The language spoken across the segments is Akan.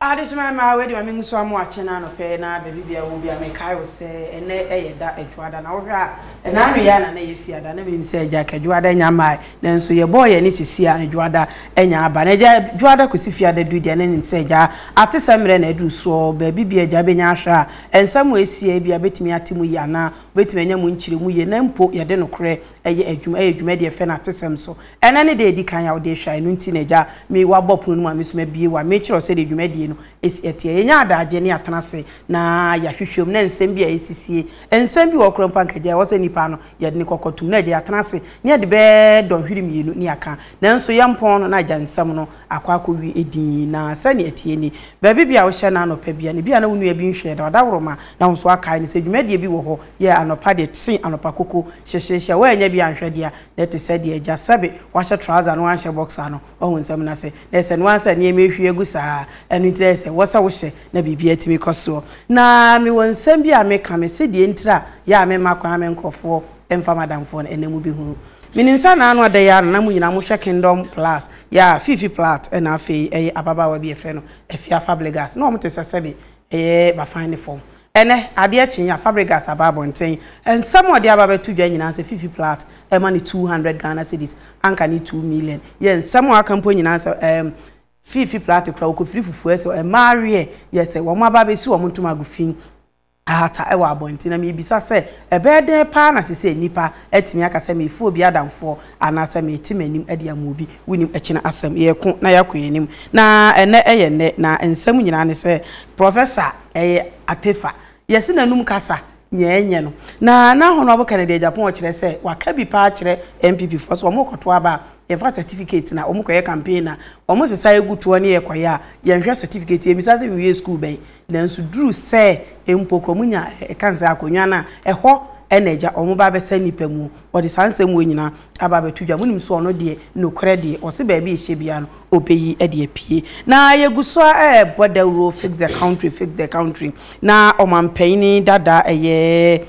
Adesoma mma a wei de ma me nwusu amoa kye no anɔpɛ yi na baabi biara wɔ biara mekae wo sɛ ɛnɛ yɛ da adwuada na wohwɛ a ɛna anweyɛ a na na yɛ fiada na menim sɛ agya ka adwuada nya mmae nanso yɛbɔɔ yɛ ne sisi a adwuada anya aba na agya adwuada kɔsi fiada du deɛ na nim sɛ agya ate sɛ mmerɛ na aduru soɔ baabi biara agya bɛnya ahwɛ a nsɛm a ɛsi a ebia bɛtumi ate mu yie anaa wobɛtumi anya mu nkyerɛ mu yie na mpo yɛde nokorɛ Ɛyɛ adwuma, ɛyɛ dwuma deɛ fɛ no atesɛm so. Ɛnɛ ne da a ɛdi kan a wode rehwɛ a, ɛno nti na agya me wabɔ pono no mu a me nso mabie wɔ a merekyerɛ wo sɛdeɛ dwumadie no si ɛteɛ. Yɛnya adaagyeɛ na yɛatena ase na yɛahwehwɛ mu na nsɛm bi a ɛsisie. Nsɛm bi wɔ hɔ koraa mpo a anka agya ɛwɔ sɛ nnipa ano yɛde ne kɔkɔ tom na agya yɛatena ase na yɛde bɛyɛ dɔnhwere mmienu na yɛaka nanso yɛmpɔn no na agya nsɛm no akɔ akɔwi edin yi, na sɛnea ɛteɛ ni, Baabi bi a wohyɛ no anɔpa bi a na ebia na wo nua bi nhwɛɛ da, ɔdaworo-ma na wo nso akae no, sɛ dwumadie bi wɔ hɔ yɛ anɔpa deɛ tse anɔpa koko hyehyehyɛ, woannya bi anhwɛ deɛ a na ɛte sɛ deɛ agya sɛbe wahyɛ trouser na wanhyɛ boxer no, wahu nsɛm no ase, na ɛsɛ noaa sɛ nneɛma ɛhwie agu saa, ɛno nti na ɛyɛ sɛ wɔ sɛ wohyɛ na biribiara tumi kɔ soɔ. Na mewɔ nsɛm bi a meka, mese deɛ ntira a yɛ a memma kwan me nkorɔfoɔ mfa m'adamfoɔ no ɛnna mobɛhunu. Menim sɛ anaa no ada yi ara na na mo nyinaa mohwɛ Kingdom Plus Yaa, Fifi Plath na afei ɛyɛ ababaawa bi a yɛfrɛ no Afia Fabregas. Na wɔte sɛ sɛbe ɛyɛ Bafan ne fam. Ɛnnɛ, adeɛ kye a, Fabregas aba abɔnten. Nsɛm a ɔde aba abɛto dwa nyinaa sɛ Fifi Plath rema no 200 Ghana cedis, anka ne two million. Yɛ nsɛm a wɔaka mpo nyinaa sɛ ɛɛm, Fifi Plath kura, ɔkɔfiri fufuo ɛsɛ, mmaa aweɛ yɛ sɛ wɔn aba abɛsi wɔn ntoma agu fi. Ahata wɔ abɔnten na mibisa sɛ, Ɛbɛyɛ dɛn paa na seesei nnipa atumi aka sɛ merefu obi adamfoɔ anaasɛ merete m'anim de ama obi? Wunim, ɛkyena asɛm, yɛreko na yɛakɔ yɛn anim, na ɛnnɛ yɛ nnɛ, na nsɛm nyinaa ne sɛ Professor Atefa, yɛse n'anom kasa nea ɛnyɛ no, na na Honourable Kennedy Agyapong kyerɛ sɛ waka bi paa kyerɛ NPP foɔ sɛ wɔrekɔto aba a yɛmfa certificate na wɔkɔyɛ campaign na wɔsesa yɛgu toɔ ne yɛkɔyɛ a yɛnhwɛ certificate, yɛmmisa sɛ mewiee sukuu bɛn? Nanso duru sɛ mpo kura mu nya a, ɛka sɛ akonnwa no a ɛhɔ na agya wɔn ba bɛsɛe nnipa mu. Wɔde saa nsɛm wei nyinaa aba abɛto dwa. Monim sɛ ɔno deɛ, nokorɛ deɛ, ɔse baabi a ɛhyɛ biara no, ɔbɛyi de apue. Na yɛgu so ara rebɔ dawuro, fix the country, fix the country. Na ɔmanpanin dada, ɛyɛ.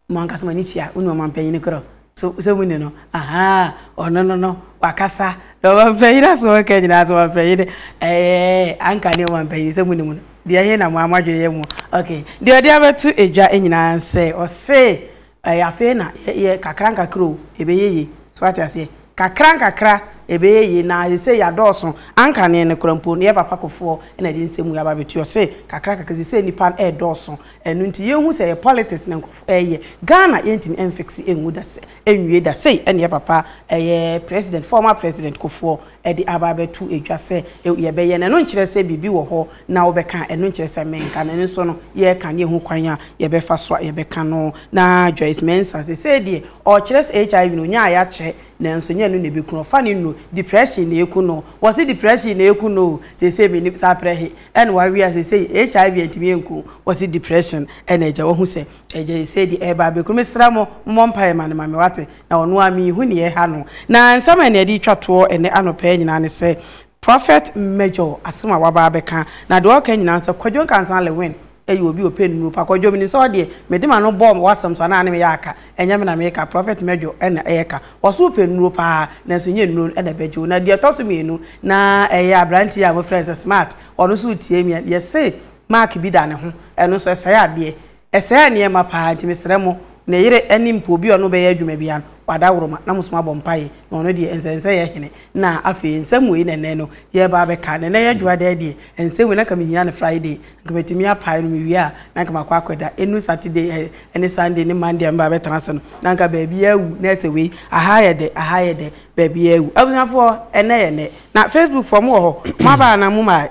Mo ankasa mo ani tua wo ne ɔmanpanyin korɔ so sɛ mo ni no ahaa ɔno no no wakasa na ɔmanpanyin asɛm ɔka nyinaa so ɔmanpanyin ɛɛ anka ne ɔmanpanyin sɛ mo ni mu no deɛ he na mo ama adwene yɛ mu ok deɛ ɔde abɛto edwa nyinaa sɛ ɔse ɛɛ afei na yɛ kakra nkakra o ɛbɛyɛ yie so ate aseɛ kakra nkakra ɛbɛyɛ yie na sɛ yɛ adɔɔso anka ne no korɔ mpo no yɛ papa kofoɔ na ɛde nsɛm mu yɛ aba bɛtu ɔse kakra kakra sɛ sɛ nipa ɛɛdɔɔso Ɛno nti yɛn hu sɛ ɛyɛ politics na nkurɔfo ɛyɛ. Ghana yɛntumi ɛnfiksi ɛnwu da sɛ ɛnwie da sei ɛna yɛ papa ɛyɛ president former president kofoɔ ɛde aba abɛto ɛdwa sɛ yɛbɛyɛ no ɛno nkyerɛ sɛ biribi wɔ hɔ na wobɛka a ɛno nkyerɛ sɛ menka no ɛno nso no yɛreka no yɛhu kwan a yɛbɛfa so a yɛbɛka no na Joyce Mensah sesei deɛ ɔkyerɛ sɛ HIV no ɔnya a yɛakyɛ nanso ɛnyɛ ɛno na ɛbɛku no ɔfa no nnuro depression na ɛku no wɔse depression na ɛku no o sesei mennim saa prɛ he Ɛna w'awe a sesei HIV antumi anku wo, wɔse depression ɛna agya wahu sɛ agya sesei deɛ ɛreba abɛku no. Mesrɛ mo mommɔ mpaeɛ ma no ma me wate, na ɔno ara menhu nea ɛha no. Na nsɛm a ɛna ɛde retwa toɔ ɛnɛ anɔpa yi nyinaa ne sɛ Prophet Major asɛm a waba abɛka, na deɛ ɔreka nyinaa ne sɛ Kwadwo Nkansah Lewin yɛ obi a ɔpɛ nnuro pa. Kwadwo, menim sɛ wo deɛ, mede m'ano bɔɔ w'asɛm so anaa ne meyɛ aka? Ɛnyɛ me na mereka, Prɔfɛt Mɛdwo na ɛreka. Wɔ so wopɛ nnuro pa ara, nanso ɛnyɛ nnuro no na ɛbɛgye wo. Na deɛ ɛtɔ so mmienu, na ɛyɛ aberanteɛ a wɔfrɛ no sɛ Smart, ɔno nso retie me a, deɛ se mark bi da ne ho, ɛno nso ɛsɛe adeɛ. Ɛsɛe nneɛma pa ara, nti mesrɛ mo, ne yere ne mpo obi a ɔne wo bɛyɛ adwuma biara no, wadaworoma na mosom abɔ mpaeɛ, na ɔno deɛ ɛnsɛ nsɛ yɛ hene. Na afei, nsɛm wei na ɛnnɛ no yɛreba abɛka. Na ɛnnɛ yɛ Dwoadaa deɛ, nsɛm wei na anka mehia no Friday, Nka metumi apae no mewie a na nka makɔ akɔda. Enu Saturday ɛ ɛne Sunday ne Monday a meba bɛtena ase no na nka baabi ara awu na ɛsɛ wei aha yɛ dɛ aha yɛ dɛ baabi ara awu. Abusuafoɔ ɛnɛ yɛ nɛ na Facebook foɔ mo wɔ hɔ mo aba anaa mo mmae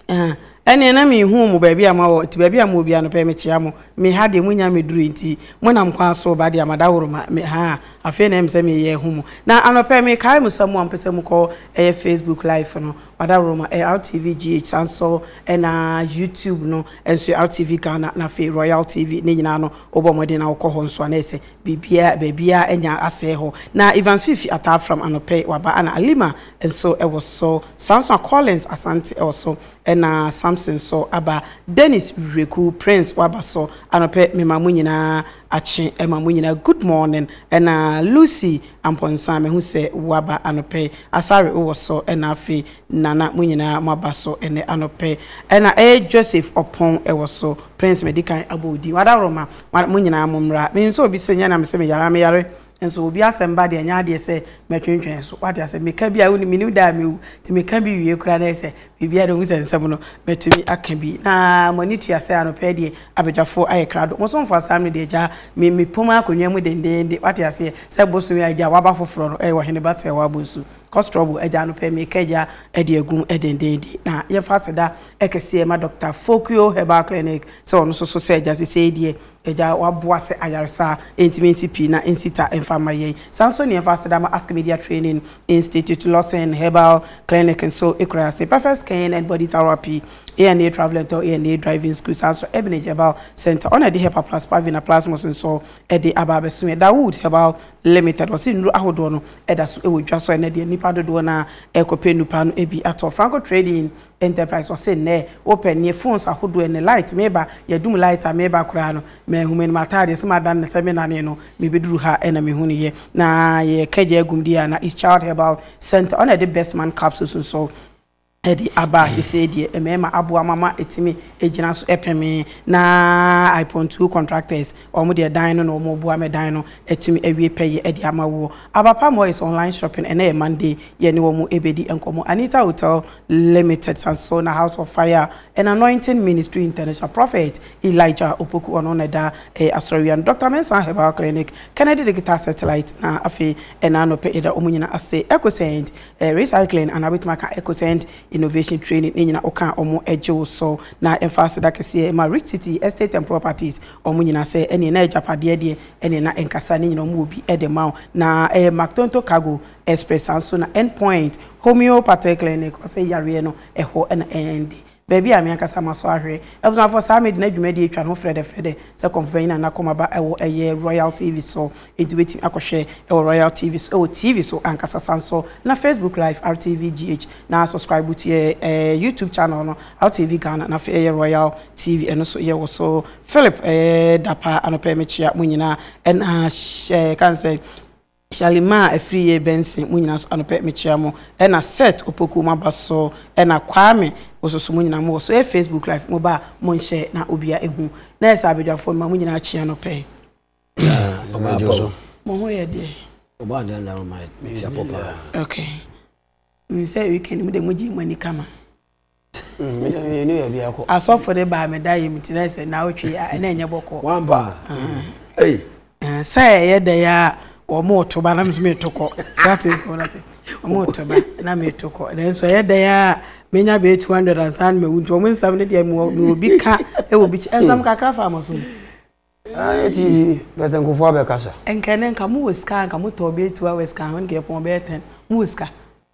ɛɛ ɛneɛ na menhuu mo baabi a mo wɔ nti baabi a mo wɔ biara no pɛɛ mekyea mo me ha deɛ mo nnya mmɛdurui nti mo nam kwan so reba deɛ madaworo ma me haa afei na ɛm sɛ meyɛ ahu mo na anɔpɛ mekae mo sɛ mo a mo pɛ sɛ mo kɔ ɛyɛ Facebook live no Adaworoma, LTV GH, saa nso na YouTube no nso LTV Ghana na afei Royal TV ne nyinaa no wobɔ mmɔden na wokɔ hɔ nso a na ɛyɛ sɛ biribiara baabiara anya asɛe hɔ. Na Evans Fifi Ataa Fram Anɔpɛ waba ɛna Alima nso wɔ so saa nso na Collins Asante wɔ so ɛna Samson nso aba Dennis Wireku Prince waba so anɔpɛ mema mo nyinaa Akye ma mo nyinaa good morning ɛna Lucy Amponsah mehu sɛ woaba anɔpɛ yi Asare wowɔ sɔ ɛna afei Nana mo nyinaa mo aba sɔ ɛnɛ anɔpɛ ɛna ɛɛ Joseph Ɔpɔn ɛwɔ so Prince madikan abɔ wo din wadaworoma mo nyinaa mo mmra menim sɛ obi se nyɛ na mese meyare a meyare Nso obi asɛm ba deɛ ɛnyɛ adeɛ sɛ mɛtwentwɛn so wate asɛ meka bi a woni menim da a mewu nti meka bi wie koraa na ɛyɛ sɛ biribi ada hu sɛ nsɛm no mɛtumi aka bi na mo ani tua sɛ anɔpɛ deɛ abadwafoɔ ayɛ krado mo so mfa saa me deɛ gyaa me mepom akonnwa mu dendeende wate aseɛ sɛ bosomi a gyaa waba foforɔ no ɛyɛ ɔhene ba sɛ wabɔ nsu kɔ strɔbo agya anɔpɛ meka gya ɛde agum dendeende na yɛmfa aseda ɛkɛseɛ ma Dr. Fokio Herbal Clinic sɛ ɔno so so sɛ agya sesei deɛ Agya a waboa sɛ ayaresa ntumi nsi pii na nsi ta mfa mma yɛn. Saa nso ne ɛfa aseda ma Ask Media Training Institute, Lawson Herbal Clinic nso kura ase, Perfect Skin and Body Therapy, ANA Travel and Tour, ANA Driving School, saa nso Ebnage Herbal Centre, ɔna ɛde Hepa Plus, Pavina, Plasmos nso ɛde aba abɛso yɛn. Dawood Herbal Limited, wɔse nnuro ahodoɔ no ɛda so ɛwɔ dwa so a ɛnɛ deɛ nnipa dodoɔ no ara ɛrekɔpɛ nnupaa no ɛbi atɔ. Franco Trading Enterprise ɔse nnɛɛ wopɛ neɛ phones ahodoɔ ɛnɛ light meba yɛadum light a meba koraa no manhu manu m'ataadeɛ se madane no sɛ menanee no mebeduru ha na mehunuiɛ na yɛka gya agum deɛ a na is child herbal centre ɔna ɛde best man capsules nso ɛde aba sesei deɛ mmarima aboa mo ama atumi agyina so ɛpemee na I pontuu contractors wɔn deɛ dan no na wɔn boa mɛ dan no atumi awie pɛyɛ ɛde ama woɔ Aba Palm oil is online shopping ɛnɛ yɛ Monday yɛne wɔn ɛbedi nkɔmɔ Anita hotel Limited san so na House of Fire and Anointing Ministry International Prophet Elijah Opoku ɔno na ɛda ɛyɛ asɔrewia no Doctor Mensah Herbal Clinic Kennedy Digital Satellite na afei ɛna anɔpɛ yɛda wɔn nyina ase Ecocent eh, Recycling anaa bɛtumi aka Ecocent Innovation Training ne nyina woka wɔn agye wo so na ɛmfa aseda kɛseɛ ma Rich City Estate and Properties wɔn nyina sɛ ɛneɛ na agyapadeɛ deɛ ɛneɛ na ɛnkasa ne nyina wɔn wɔ bi ɛde ma wo na ɛyɛ Mactonto Cargo Expressa nso na End Point Homeopathic Clinic, ɔsɛ yareɛ no, ɛhɔ na ɛnde. Baabi a me ankasa masɔ ahwɛ. Abusuafoɔ saa me de no adwumadie retwa ne ho frɛdɛfrɛdɛ sɛ kɔmfopanyin a n'akoma ba wɔ ɛyɛ Royal TV so enti wobɛtumi akɔhwɛ wɔ Royal TV so wɔ TV so ankasa sane nso na Facebook Live RTV GH na subscribe to yɛn YouTube channel no RTV Ghana na afei ɛyɛ Royal TV ɛno nso yɛwɔ so Philip ɛyɛ da paa anɔpa yi mekyea mo nyinaa ɛna hyɛ kan sɛ Charlie maa afiri yɛɛ bɛnsen mo nyinaa so anɔpɛ mekyea mo ɛna Seth Opoku mo aba so ɛna Kwame Wososo mo nyinaa mo wɔ so ɛyɛ Facebook live mo ba a mo nhyɛ na obia ɛhu Nurse Abadwafoɔ mema mo nyinaa kyea anɔpɛ yi. Yaa ɔmo dwo so. Mo ho yɛ deɛ. Ɔbɔ adeɛ anaa ɔma me tia pɔ paa. Okay. Menim sɛ weekend mo deɛ mo gyee mo ani kama. Asɔfo de baa me dae mu kyerɛ sɛ naawɔtwe yi a ɛna ɛnyɛ bɔkɔ. Wampa. Ei. Sɛ ɛyɛ dɛ ya wɔn to ba na mso meto kɔ. Sate nkɔ na se. Wɔn to ba na meto kɔ. Nanso ɛyɛ dɛ ya menya bɛ 200 ansa na mawu nti wɔn nsɛm no deɛ me obi ka ɛwɔ bi nsɛm kakra fa mo so. Eti bɛtɛ nkofo abɛkasa. Nkɛne nka mo wɔ sika nka mo tɔ bɛ 2 hours kan ho nka ɛpɔn bɛ 10 mo wɔ sika.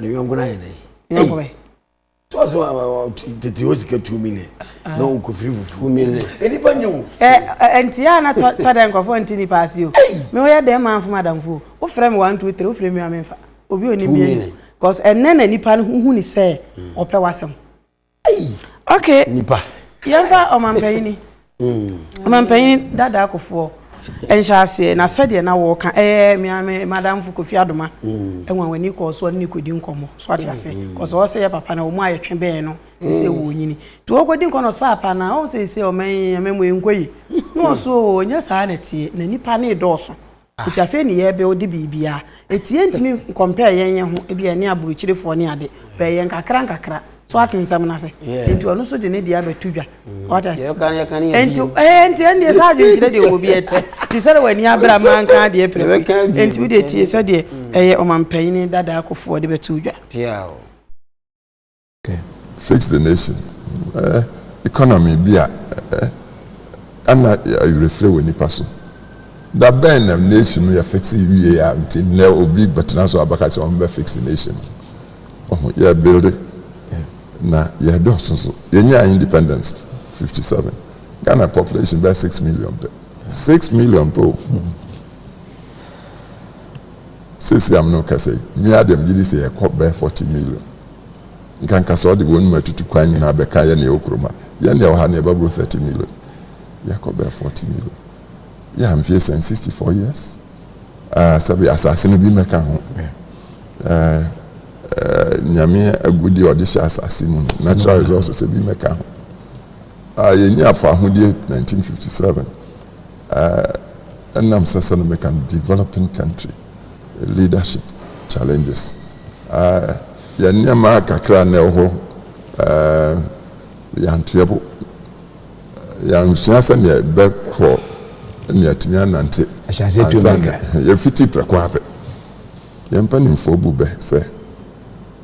ne yɔnko no ayɛ dɛn so so tete hɔ sika two million na wokɔfiri fufuo million nnipa nyɛ wo ɛnti a na tɔ dɛ nkɔfoɔ nti nipa ase o me woyɛ dɛn ma mfo madamfoɔ wofrɛ me one two three wofrɛ me a memfa obi ɔni biani cause ɛnɛ na nipa no ho hu ne sɛ ɔpɛ wasɛm okay nipa yɛmfa ɔmampanyini mm. ɔmampanyini dada akofoɔ nhyɛ aseɛ na sɛdeɛ na wɔka ɛyɛ meame madamfo kofi adoma mm. ɛwa w'ani kɔɔ soɔ ne kɔdi nkɔmmɔ so ate ase mm. kɔsɛ ɔsɛ yɛ papa na ɔmu ayɛ twe bɛɛ no sɛ wɔ nyini nti wɔkɔdi nkɔ no ɔsɛ papa na ɔhu sɛ sɛ ɔma yi ama mu ɛnkɔ yi na ɔso ɔnyɛ saa na tie na nipa ne dɔɔso Nti afei ne yɛ bɛ ɔde biribiaa. Ɛtiɛ ntimi nkɔmpɛɛ yɛn yɛn ho ɛbi ɛne aburukyirefoɔ ne ade. Bɛɛ yɛ nkakra nkakra. So wate nsɛm no ase? Nti ɔno nso de ne deɛ abɛto dwa. Wate ase? Nti ɛɛ nti ɛndeɛ saa adwenkyerɛ deɛ ɔwɔ bi ɛte. Nti sɛdeɛ w'ani abere a maa nka adeɛ prɛko yi. Nti wo deɛ tie sɛdeɛ ɛyɛ ɔmampanyini dada Akuffo ɔde bɛto dwa. Fix the nation economy bi a ɛna awerɛfirɛ wɔ nnipa so. Da bɛn na nation no yɛ fix wie a nti nnɛ obi bɛtena so abɛka sɛ wɔn bɛ fix nation no. Ɔho yɛ build na yɛ dɔɔso so. Yɛnyaa independence 57. Ghana population bɛyɛ six million pɛ. Six million pɛ o. Sisi am no kɛsɛ yi, mi a deɛ mgye di sɛ yɛkɔ bɛyɛ forty million. Nka nka sɛ ɔde wɔn mu atutu kwan nyinaa bɛka yɛn na yɛwɔ kurom ha. Yɛn na yɛwɔ ha na yɛba boro thirty million. Yɛkɔ bɛyɛ forty million. Yɛn mfeɛ sɛn sixty four years. Ah, sɛbi asase no bi mmɛka ho. Eh, eh, nyame agudeɛ ɔde hyɛ asase mu no, natural resources ebi mmɛka ho. Ah, yɛnyi afɔ ahodeɛ nineteen fifty seven. Eh, ɛnam sɛ sɛ no meka no developing country. Leadership Challenges, Yɛn nneɛma kakra na ɛwɔ hɔ, yɛantoa bo, yɛansua sɛnea yɛbɛkɔ ne yɛatumi anante ansa na yɛafiti prɛko ara pɛ. Yɛn mpanimfoɔ bu bɛ sɛ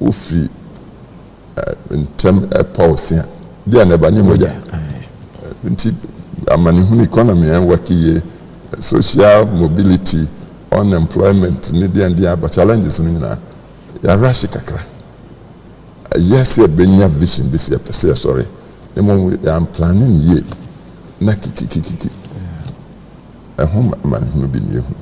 wofiri ntɛm ɛpa ɔsea deɛ na ɛba nyɛ mogya nti amanehunu economy ɛnwɔke yie social mobility unemployment ne deɛn deɛn aba challenges no nyinaa yɛarahye kakra ɛyɛ sɛ ɛbɛnya vision bi sɛ yɛpɛ sɛ yɛsɔre na mmom yɛamplane no yie na kikikikiki ɛho amanehunu bi ne yɛhu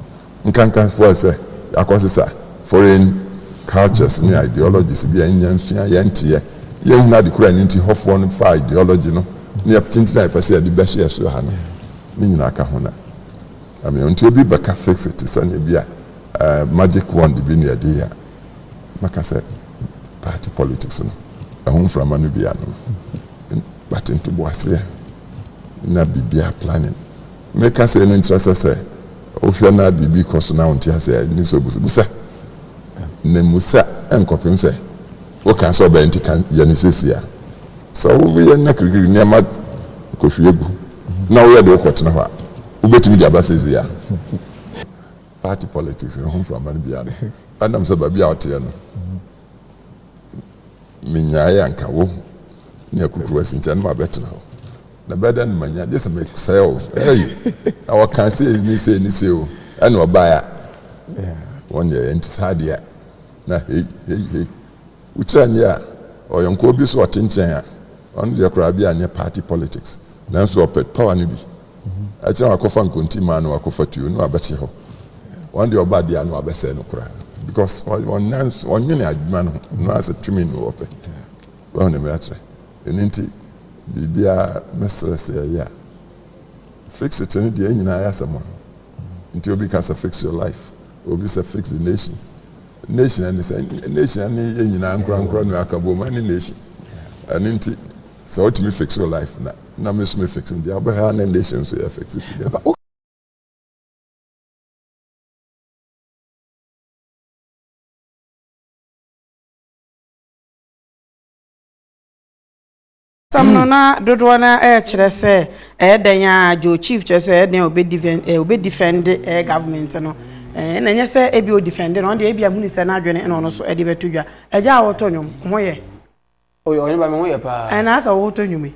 Nkanka fo sɛ yɛakɔ sesa foreign cultures ne ideologies bi a ɛnyɛ nsua yɛn nteɛ, yɛn hunu ade koro a ɛno nti hɔ foɔ no faa ideology no ne yɛ tenten a yɛpɛ sɛ yɛde bɛhyɛ yɛ so ha no ne nyinaa ka ho na ɛmea nti obi bɛka fix it te sɛ ne bi a eh, magic wand bi ne yɛde yɛ a mɛka sɛ party politics no ɛho mframa no bi ano but ntoboaseɛ na biribiara planning Ne kasɛɛ no nkyerɛ sɛ sɛ wohwɛ na biribi kɔ so na wonte aseɛ a, nni sɛ obu so. Bisa, na mmu sa nkɔpem sɛ woka sɛ ɔbɛyɛ, nti ka yɛ no seesei a. Sɛ woyɛ na kirikiri nneɛma kɔhwie gu na woyɛ de wokɔtena hɔ a, wobɛtumi de aba seesei a? Party politics no ho mframa no bi ara no, ɛnam sɛ baabi a woteɛ no, menyaeɛ anka wo ne akukuruwasi nkyɛn na mabɛtena hɔ. Na ɛbɛyɛ dɛn na manya, gye sɛ mesɛe wo? Ei, na wɔkaa sei ne sei ne sei o, ɛna ɔbaeɛ a, wɔn deɛ ɛnte saa deɛ a, na hei, hei, hei. Wokyerɛ nneɛ a, ɔyɔnkoɔ bi so ɔte nkyɛn a, ɔno deɛ koraa bi a nyɛ party politics, nanso ɔpɛ power no bi. Akyire na wakɔfa nkontimmaa na wakɔfa tuo na wabɛhye hɔ. Wɔn deɛ ɔba deɛ a na wabɛsɛe no koraa because wɔn nan so, wɔnwene adwuma no ho, no ara sɛ tumi no wɔpɛ. Wɔn na ɛmɛ akyerɛ. Ɛno nti biribiara mɛsrɛ sɛ ɛyɛ a fix it no deɛ nyinaa yɛ asɛm a nti obi ka sɛ fix your life obi sɛ fix the nation nation ɛne sɛ nation ɛne yɛ nyinaa nkorankora no aka bom ɛne nation ɛno nti sɛ wotumi fix your life na na me so me fix me deɛ abɛhɛ ne nation so yɛ fix it together Asɛm no na dodoɔ no ara ɛrekyerɛ sɛ ɛyɛ dɛn a Joe Chief kyerɛ sɛ ɛyɛ dɛn a ɔbɛdifɛn eh, ɔbɛdifɛnde ɛyɛ eh, government no eh, ɛna ɛnyɛ sɛ ebi ɔdifɛnde no ɔno deɛ ebi ahunu sɛ n'adwene ɛna ɔno so ɛde bɛto dwa agya a wɔtɔ nnwom ho yɛ. Oyɛ ɔne ba me ho yɛ paa. Ɛna asɛ wɔtɔ nnwom yi.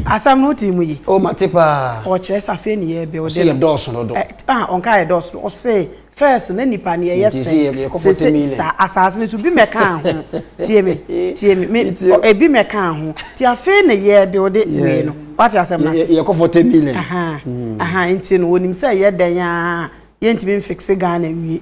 Asɛm no wotee mu yi? O mate paa. Ɔkyerɛ sɛ afei ne yɛ build no. Ɔse yɛ dɔɔso dodo. Ɛ ah ɔnkaa yɛ dɔɔso dodo ɔse first na nipa no yɛyɛ sɛn. Nti yɛ yɛkɔ forty million. Sese saa asaase no so bi mɛkaa ho tie me tie me me ebi mɛkaa ho ti afei ne yɛ build wei no wate asɛm no ase. Yɛkɔ forty million. Ahaa ahaa nti no wɔnim sɛ yɛ dɛn aa yɛntumi nfixe Ghana nwie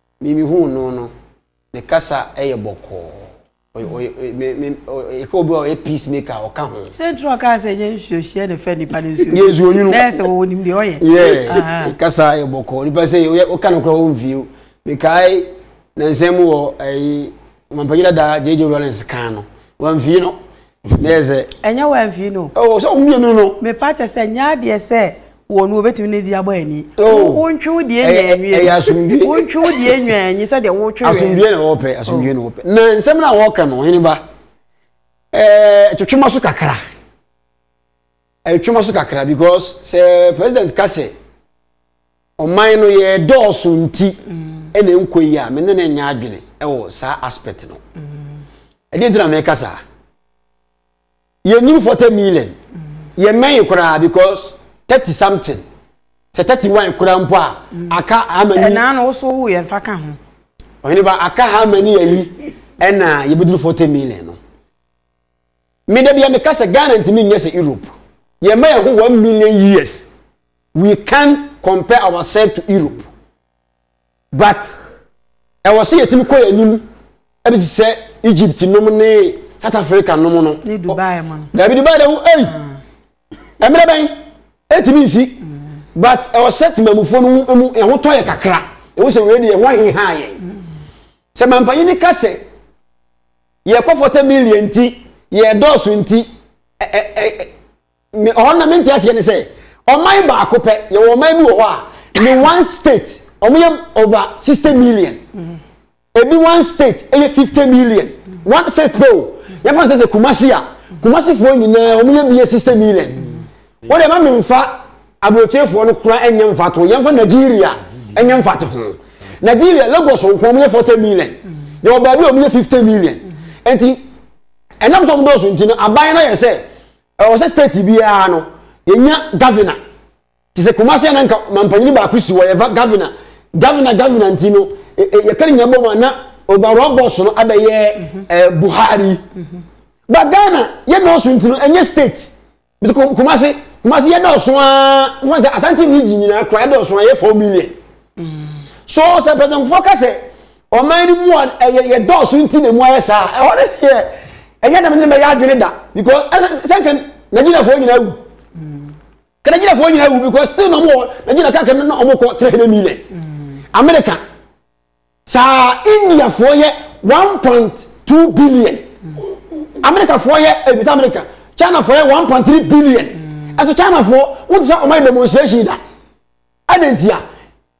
me mehuu no no ne kasa yɛ bɔkɔɔ ɛka obi a ɔyɛ peace maker a ɔka ho sɛ ntura ɔka sɛ ɛnyɛ nsuohyeɛ na ɛfɛ nipa no nsuo yɛ nsuo nwunu na ɛsɛ wɔwɔ nim deɛ ɔyɛ yɛ kasa yɛ bɔkɔɔ nipa sɛ ɔka no kora wɔn view mekae na nsɛm wɔ ɛyi mampanyina da gyegye rollins kan no wɔn view no Meyɛ sɛ. Ɛnyɛ wo amfii no. Oh, sɛ mmienu no. Mepa kyɛ sɛ nyɛ adeɛ sɛ wɔn no wɔbɛtumi ne di abɔ ani. Oh. Wontwe wo deɛ nwa anwie. Ɛyɛ asomdue. Wontwe wo deɛ nwa anyi sɛ deɛ wotwe wɛ. Asomdue na wɔpɛ, asomdue na wɔpɛ. Na nsɛm na wɔka no, hene ba. Ɛɛ twetwe ma so kakra. Ɛtwe ma so kakra because sɛ president ka sɛ. Ɔman no yɛ dɔɔso nti ɛna ɛnkɔ yi a me ne no nyɛ adwene ɛwɔ saa aspect no. Ɛdeɛ nti na meka saa. Yɛ nnuru 40 million. Yɛ mmɛn koraa because 30 something. Sɛ 31 koraa mpo a aka how many. Ɛnaa no woso wo yɛ nfa ka ho. Ɔhene ba aka how many ayi ɛna yɛbɛduru 40 million no. Me da bia meka sɛ Ghana ntumi nyɛ sɛ Europe. Yɛmma yɛn ho 1 million years. we can compare ourselves to europe but ɛwɔ sɛ yɛtumi kɔ yɛn anim ɛbi te sɛ egypt nom ne south africa nom no ne dubai mu no dabi dubai de ho ɛyi ɛmmerɛ bɛn ɛtumi nsi but ɛwɔ sɛ temamufoɔ no mu ɛho tɔ yɛ kakra ɛwɔ sɛ wei deɛ ɛho aheha yɛ sɛ mampanyin ne ka sɛ yɛkɔ fɔtɛ million nti yɛdɔɔso nti ɛɛ ɛɛ ɔhɔ na mente aseɛ ne sɛ ɔman baako pɛ yɛwɔ ɔman bi wɔ hɔ a ne one state wɔyɛ over sixty million mm-hmm. ebi one state ɛyɛ fifty million mm-hmm. one state pɛ o yɛfa sɛ sɛ kumasi a mm-hmm. kumasifoɔ nyinaa wɔyɛ bi yɛ sixty million wɔn deɛ ma mi nfa aburokyefoɔ no kura ɛnyɛ nfa to yɛn fa nigeria ɛnyɛ nfa to ho nigeria lagos nko wɔyɛ forty million yɛwɔ baabi a wɔyɛ fifty million nti ɛnam sɔm dɔɔso nti no aban no yɛ sɛ. Ɛwɔ sɛ state biara no yɛnya governor te sɛ Kumasi a na nka mampanyini baako si hɔ yɛfa governor governor governor nti no e, e, yɛka ne nyina bɔ mu a na overall boss no abɛyɛ mhm. eh, Buhari mhm. ba Ghana yɛ nɔɔso nti no ɛnyɛ state bi Kumasi Kumasi yɛ dɔɔso aa wɔn sɛ Asante region nyinaa kura yɛ dɔɔso aa yɛ four million mm. so sɛ pɛtɛnfoɔ ka sɛ ɔman no mu a ɛyɛ yɛ dɔɔso nti na emu ayɛ saa ɛhɔ no yɛ ɛnyɛ dɛm ne mɛyɛ adwene da because ɛsɛ sɛ nka nigeriafoɔ nyinaa wu ka nigeriafoɔ nyinaa wu because still na ɔmo nigeria kaka no na ɔmo kɔ three hundred million america saa indiafoɔ yɛ one point two billion americafoɔ yɛ ebita eh, america chinafoɔ yɛ one point three billion ɛto chinafoɔ wotu sɛ ɔmo yɛ demonstration da ɛna ntia.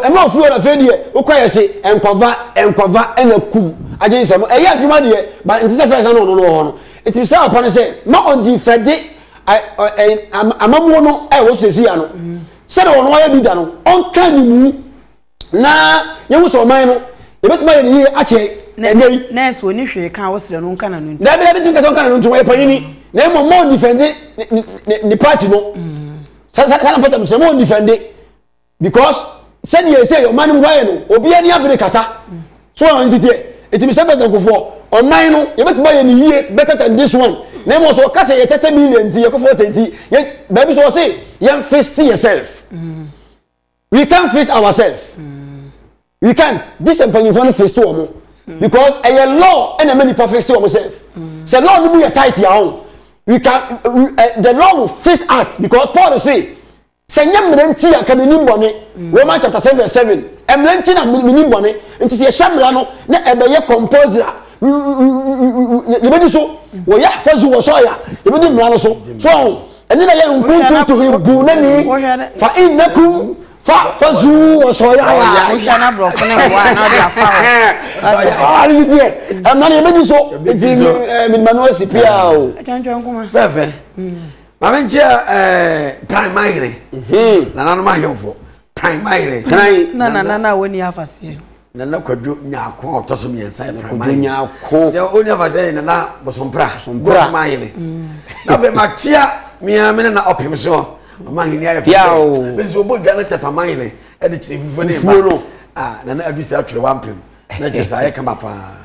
Ɛma ofi hɔ no afei deɛ wokɔ yɛ se nkɔva nkɔva ɛna kum agye nsɛm no ɛyɛ adwuma deɛ ba nti sɛ fɛs na ɔno no wɔ hɔ no nti mesrɛ papa no sɛ ma ɔngyi fɛde amamuo no ɛwɔ so sɛsi ya no sɛdeɛ ɔno ayɛ bi da no ɔnka ne mu na yɛhu sɛ ɔman no yɛbɛtumi ayɛ ne yie akyɛ ɛnɛ yi nɛɛse ɔni hwee ka wosrɛ no nka na no nti dabi dabi tumi ka sɛ ɔnka na no nti wɔyɛ panyini na mmom ma ɔndifɛnde ne party no mm. sɛ na pɔtam kyerɛ ma ɔndifɛnde because sɛdeɛ ɛsɛ ɔman no mu hɔ ayɛ no obi ani abere kasa so wɔn nti teɛ nti mr president kofoɔ ɔman no yɛbɛtumi ayɛ ne yie better than this one na mmom so ɔka sɛ yɛ tɛtɛ million nti yɛkɔ fɔtɛ nti yɛ baabi so ɔse yɛn fist yourself mm. we can fist ourselves mm. we can't gye sɛ mpanyinfoɔ no fist wɔn mm. because ɛyɛ law ɛna ɛmɛ nipa fist wɔn self sɛ law no mu yɛ tight yɛ ahɔn we can we, uh, the law will fist us because paul say. sɛ nyɛ mmerɛ nti a nka menim bɔne mm. Romans chapter seven verse seven mmerɛ nti na menim bɔne nti sɛ yɛhyɛ mmara no na ɛbɛyɛ compulsory a yɛbɛdi so wɔyɛ afɔzu wɔ sɔɔ ya yɛbɛdi mmara no so so ɔho ɛne na yɛ nkuntuntuhi bu na ni fa innakum fa afɔzu wɔ sɔɔ ya ya ɔhane yi deɛ ɛmma no yɛbɛdi so nti medima no asi pia o fɛfɛ maame nkyɛn ɛɛ tan man yere mhm. nananom ahemfo tan man yere tan na na na wɔn ni afaseɛ nana kwadwo nyaako a ɔtɔ so mmiɛnsa yɛ tan man yere nyaako deɛ ɔni afaseɛ yɛ nana bosompra bosompra man yere mm. na afei ma tia mmea mene na ɔpem so ɔmo ahenni ayɛ fɛ fɛ bɛsi ɔbɔ dwa no tɛpa man yere ɛde kyerɛ fufuo ne ba ah nana adu sɛ atwere wampem na kyerɛ sɛ ayɛ kama paa.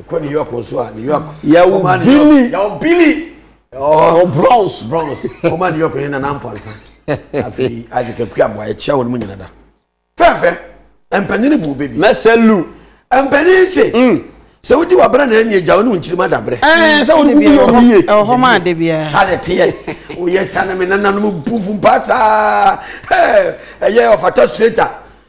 ɛkɔ new york nso a new york yɛwo billy yɛwo billy ɔɔ bronze bronze ɔma new york yɛn nana mpansa afei agye kakua mmoa yɛkyia wɔn mu nyina da fɛfɛ mpanyini bu bebi mɛsɛ lu mpanyini se mm. sɛ wodi wabra na ɛni agya wo ne wo nkyirima dabrɛ sɛ wode wobi yɛ obi ye ɛhɔ ma ade biara sade teɛ woyɛ sane me nananom bufu mpa saa ɛyɛ ɔfata straighter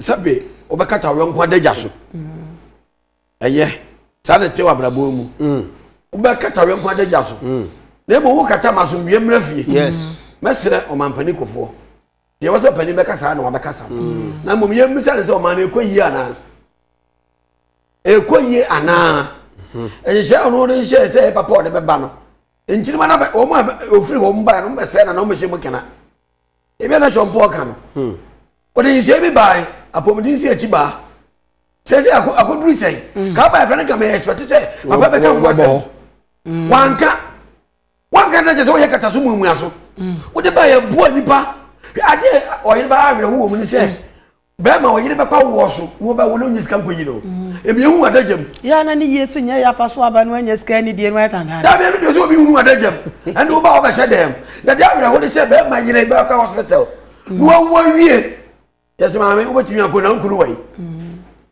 sɛbe wobɛkata wo yɔnko adagya so ɛyɛ saa na ɛteɛ wɔ abrabɔ mu wobɛkata wo yɔnko adagya so na mmom wokata ma asomdwoeɛ mmra fie mɛserɛ ɔmampani kofoɔ deɛ wɔ sɛ panin bɛka saa na wabɛkasa no na mmom yɛmmisa ne sɛ ɔma no ɛkɔ yie anaa ɛkɔ yie anaa nhyɛ ɔno de nhyɛ sɛ papa ɔde bɛba no nkyirima no wɔn a ofiri wɔn baeɛ no wɔn bɛsɛe na na wɔn bɛhyɛ mu kena ebi a na Sean Paul ka no hmm. ɔde nhyɛ bi baae apɔmuden si akyi baa sɛsɛ akɔduru sɛn hmm. kaa baa ɛkora ne kama ɛspɛte sɛ papa bɛka ho asɛm hmm. wanka wanka na kyɛ sɛ woyɛ kata so muamua so wode baa yɛboa nnipa adeɛ ɔyere baa awerɛho wɔ mu ne sɛ Bɛɛma ɔyere bɛpa woɔ so wo bɛ wo no nye sika nkɔyi no ebi ehu adagya mu. Yɛ na ne yie so nyɛ yɛ apa so aba no anya sika ɛne die no ayɛ kankan. Dabi ɛno deɛ sɛ obi hunu adagya mu ɛne wo ba a ɔbɛhyɛ dan mu na deɛ awerɛ ho ne sɛ bɛɛma yere bɛkɔ hospital na wawu awie yɛsɛ maame wobɛtumi akɔ na nkunu wɔ yi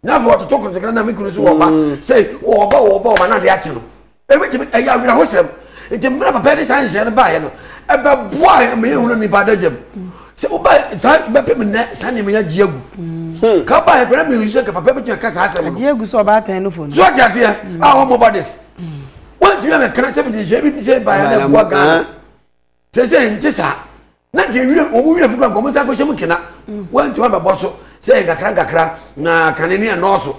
na afei wɔtoto kotokra na me kunu so wɔ ba sɛ wɔ ba wɔ ba wɔ ba na adeɛ akye no. Ebetumi ɛyɛ awerɛhosɛm. Nti mmerɛ papa de saa nhyɛ no baeɛ no, ɛbɛboa yɛ ma yɛhunu nnipa adagya mu. Sɛ woba saa bɛpem nnɛ saa nneɛma yi agye agu. Hmm. Ka baeɛ koraa mi nsu sɛ nka papa bɛtumi aka saa asɛm no. Agye agu sɛ ɔbaa tɛn no fo no. So ɔte aseɛ hmm. a wɔn mɔba des. Hmm. Wɔntumi amɛka sɛ mede nhyɛ bi bi sɛ baeɛ na ɛboa Ghana. Sɛ sɛ nte saa na nka ewira wɔn mu wira fukura nka wɔn nsa akɔhyɛ mu kena wɔntumi abɛbɔ so sɛ nkakra nkakra na kane ne ɛnɔɔso.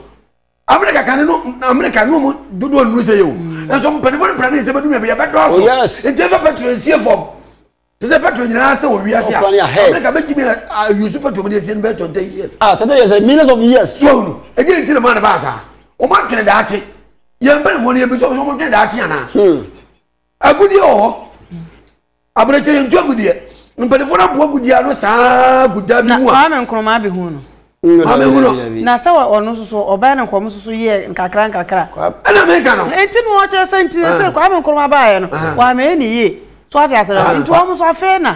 America kan no America no mu dodoɔ nnuru sɛ yɛ o mm. nso mpanimfoɔ no mpira ne nsɛ bɛdu mmiɛbi yɛbɛdɔɔso oh, nti ɛfɛ petro nsie fam te sɛ petro nyinaa sɛ wɔ wiase a America bɛgyimi ayusu petro mu de asie no bɛyɛ twenty years ah twenty years eh, millions of years so ahunu ɛgye nti na maa no baa saa wɔn atwene daakye yɛn mpanimfoɔ no yɛbi sɛ wɔn twene daakye anaa hmm. agudeɛ wɔ hɔ aberɛkyɛ yɛntu agudeɛ mpanimfoɔ no aboa agudeɛ ano saa gu da bi mu a maame nkroma abɛhu no maame hu no na sɛ ɔno nso so ɔbɛn no nkɔm nso so yɛ nkakra nkakra ɛna meka no ɛnti no ɔkyerɛ sɛ nti sɛ kwame nkroma baeɛ no wɔamɛyɛ ne yie so ate asɛ nti wɔn nso afei na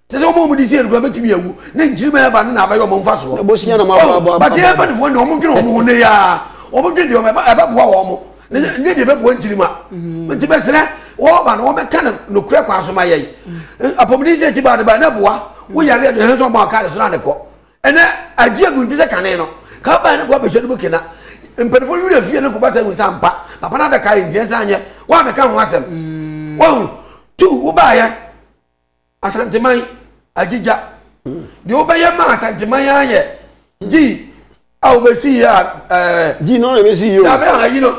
te sɛ wɔn a wɔde si adukura bɛtumi awu ne nkyirim a ɛba no na abɛyɛ wɔn mfasoɔ na bosia na moaboaboa bate yɛ mpanifoɔ ne wɔn dwene wɔn ho ne yɛa wɔn dwene deɛ ɛbɛboa wɔn mo ne nyɛ deɛ ɛbɛboa nkyirim a nti bɛsrɛ wɔba no wɔbɛka no nokorɛ kwan so ma yɛn apɔmuden sɛ akyi baa de baa na boa woyare ɛde hɛn sɛ ɔbɔ akaade so na ne kɔ ɛnɛ agye agu nti sɛ kane no ka baa ne kɔ abɛhyɛ no mu kena mpanifoɔ nwiri afie no kɔba sɛ hu sɛ ampa papa no abɛka yɛ ntiɛ sɛ anyɛ wɔabɛka ho asɛm wɔn tu wobaayɛ asanteman agyigya deɛ wobɛyɛ ma asanteman ara yɛ gyii a wobɛsi yɛ a ɛɛ gyi no na bɛsi yie o dabe a ayi no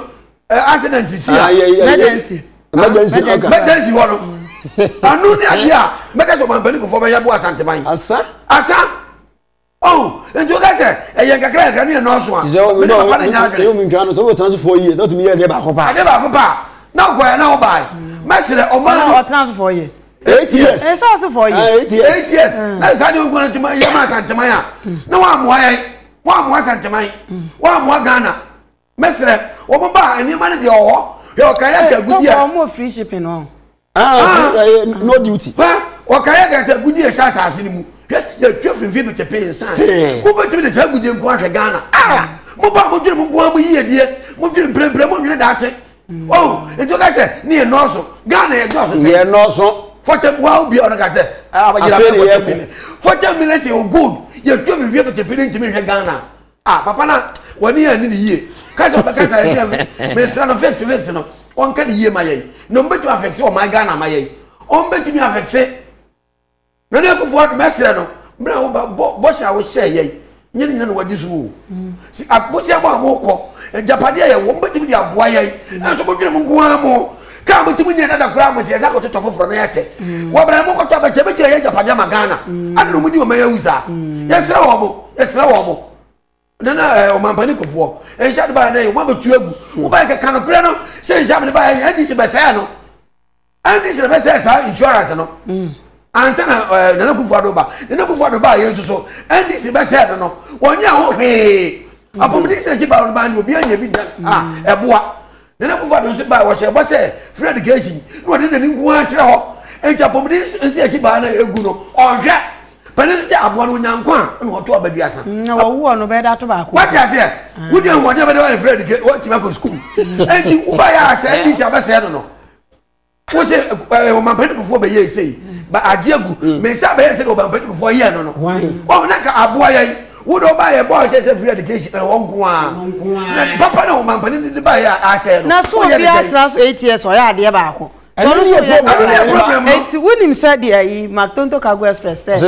ɛɛ accident si a Ah, yɛ- yɛ- yɛ- Emergency. Emergency, Ah, okay. mɛtɛnsi hɔ no ano ne adeɛ a mɛka sɛ ɔmampani kufoɔ bɛyɛ bo asanteman asa asa Oh, nti woka sɛ ɛyɛ nkakra nkakra ne ɛnɔɔso a. Ti sɛ omi na omi na omi ntwa no so wotena so four years na otumi yɛ ɛdeɛ baako paa. Ɛdeɛ baako paa na ɔkɔɛ na ɔbaa yi. Mɛsrɛ ɔmaa no. Ɔtena so four years. Eight years. Ɛsɛ eh, ɔsɛ four years. Ah, eight years. Eight years. Mm. Na saa deɛ nkuna ntoma yɛ maa santeman a na wɔn amoa yɛn wɔn amoa santeman wɔn amoa Ghana. Mɛsrɛ, wɔn ba a, nneɛma no deɛ ɔwɔ hɔ. Hwɛ ɔkaeɛ aka eh, agudie a. Ɔmo free shipping no. Ah, ah. Eh, eh, no duty. Hwɛ ɔkaeɛ aka sɛ agudie ɛhyɛ asase no mu. Hwɛ yɛtwa finfin do tepee nsa. Mobɛtumi de saa agudie nko ahwɛ Ghana. Ah, mo ba mo dwene mo nko mo yie die. Mo dwene mprempren mo nwene daakye. Mm. Oh, etu ka sɛ ne yɛ nɔɔso. Ghana yɛ dɔɔso sɛ. Yɛ nɔɔso. Fɔtɛm wa obi a ɔno ka sɛ. Afei ne yɛ ko. Fɔtɛm mi lɛ sɛ o gold. Yɛtwa finfin do tepee ne ntumi hwɛ Ghana. Ah papa na wani yɛ ani ne yie kasa ɔbɛ kasa yɛ sɛ mesra no fix fix no ɔnka ne yie ma yɛn na ɔmbɛtumi afɛkse ɔman ghana ma yɛn ɔmbɛtumi afɛkse na ne akufo adom ɛsrɛ no mmerɛ wo ba bɔhyɛ a wohyɛ yɛn nyɛ ne nyina na wagye so o si abosea mu a mokɔ agyapadeɛ yɛ wɔ mbɛtumi de aboa yɛn nanso modwene mo nko ara mo Car mo tumi nyɛ dada koraa mo nsi yɛsa kɔtotɔ foforɔ na yɛkyɛ mm. wɔ bɛrɛ mo kɔtɔ bɛkyɛ bɛtua yɛ agyapadeɛ ma Ghana mm. ade na ɔmo di ɔmo awu saa mm. yɛsrɛ wɔ mo yɛsrɛ wɔ mo nana ɛɛ eh, ɔmampani kofoɔ nhyɛ ade baayɛ n'ayɛ ɔmo abɛtu agu mo baayɛ kɛkɛ no korɛ no sɛ nhyɛ amene baayɛ yɛ ndc bɛsɛɛ no ndc na bɛsɛɛ saa insurance no ansa na ɛɛ eh, nana kofoɔ ado ba nana kofoɔ ado ba yɛ nso so ndc bɛsɛɛ no no wɔnyɛ ho hwee apɔmuden sɛ ɛkyi ba ɔno ba ni obi anya bi da a ɛboa. Nana Akufo-Addo nso bae, ɔhyɛɛ bɔ sɛ free education na ɔde n'ani nko ara kyerɛ hɔ, enti apɔmuden nsi akyi baa na egu no, ɔnhwɛ. Panin no sɛ aboa no onya nkwa a, ɛna ɔto aba duasa. Mm, na wɔwo ɔno bɛyɛ da to baako. Wate aseɛ? Ah. Wodi ahoɔden a bɛde wɔyɛ free education, wɔatumi akɔ sukuu. Enti wobaeɛ a sɛ ɛnti sɛ abɛsɛɛ no no. wo se eh, ɔmampanin kufoɔ bɛyɛ esei ba agye agu mm. me nsa bɛyɛ sɛ deɛ ɔmampanin kufoɔ yɛ no no ɔn na ka aboa yɛn wo de ɔba yɛ bɔɔl kyɛ sɛ free education ɛwɔ eh, nko ara na papa na ɔmampanin de ba yɛ asɛ no na so obi atra so eight years ɔyɛ adeɛ baako ɛno ne yɛ problem no nti wonim sɛ deɛ yi mactonto cargo express sɛ